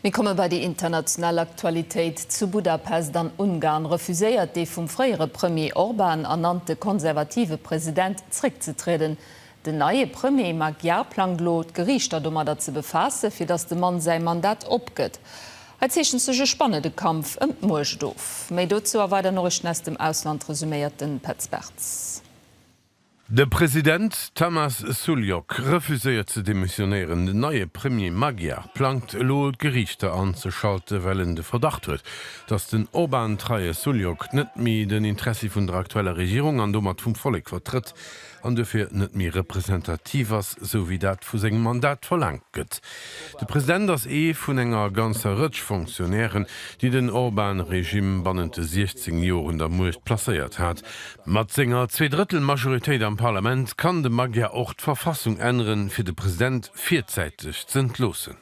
Mir komme bei déi international Aktualitéit. Zu Budapest an Ungarn refuséiert dee vum fréiere Premier Orban ernannte konservative President zréckzetrieden. Den neie Premier Magyar plangt elo, d'Geriichter domadder ze befaasse fir datt de Mann säi Mandat opgëtt. Hei zeechent sech e spannende Kampf ëm d'Muecht of. Méi dozou a weider Noriichten aus dem Ausland resuméiert de Petz Bartz. De President Tamas Sulyok refuséiert ze demissionéieren. Den neie Premier Magyar plangt elo d'Geriichter anzeschalten, well en de Verdacht huet, datt den Orban-treie Sulyok net méi den Interessi vun der aktueller Regierung an domat vum Vollek vertrëtt an dofir net méi representativ ass, sou wéi dat vu sengem Mandat verlaangt gëtt. De President ass ee vun enger ganzer Rëtsch Fonctionnairen, déi den Orban-Regime bannent de 16 Joer un der Muecht placéiert hat. Mat senger Zweedrëttelmajoritéit am Parlament kann de Magyar och d'Verfassung änneren, fir de President virzäiteg z'entloossen.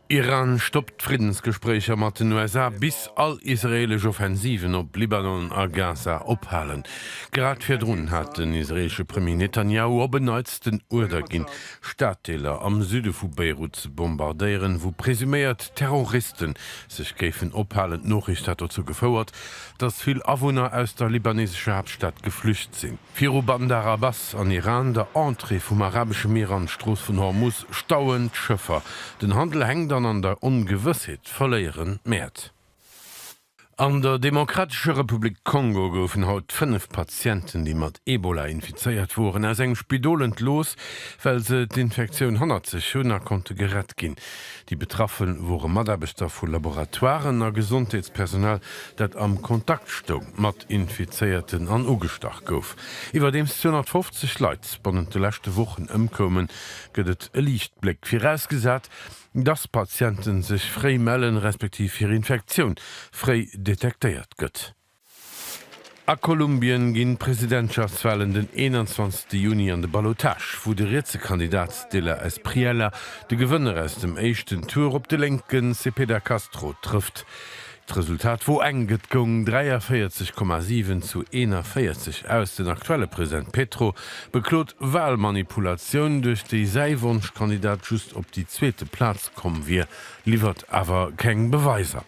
Iran stoppt d'Friddensgespréicher mat den USA, bis all israeelesch Offensiven op Libanon a Gaza ophalen. Grad virdrun hat den israeelesche Premier Netanjahu op en Neits den Uerder ginn, Staddeeler am Süde vu Beirut ze bombardéieren, wou presuméiert Terroriste sech géifen ophalen. D'Noriicht hat dozou gefouert, datt vill Awunner aus der libanesescher Haaptstad geflücht sinn. Viru Bandar Abbas an Iran, der Entrée vum Arabesche Mier an d'Strooss vun Hormuz, stauen d'Schëffer. Den Handel hänkt an an der Ongewëssheet verléieren d'Mäert. An der Demokratescher Republik Kongo goufen haut fënnef Patienten, déi mat Ebola infizéiert woren, aus engem Spidol entlooss, well se d'Infektioun hannert sech hunn a konnte gerett ginn. Déi Betraffe wore Mataarbechter vu Laboratoiren a Gesondheetspersonal, dat am Kontakt stoung mat Infizéierten an ugestach gouf. Iwwerdeems 250 Leit bannent de leschte Wochen ëmkoumen, gëtt et e Liichtbléck, virausgesat, dass Patiente sech fréi mellen, respektiv hir Infektioun fréi detektéiert gëtt. A Kolumbien ginn d'Presidentschaftswalen den 21 Juni an de Ballottage, wou de rietse Kandidat Stiller Espriella de Gewënner aus dem éischten Tour op de lénke Cepeda Castro trëfft. D'Resultat wor enk, et goung 43,7 zu 41 aus. Den aktuelle President Petro beklot Walmanipulatioun, duerch déi säi Wonschkandidat just op déi zweete Plaz komm wier, liwwert awer keng Beweiser.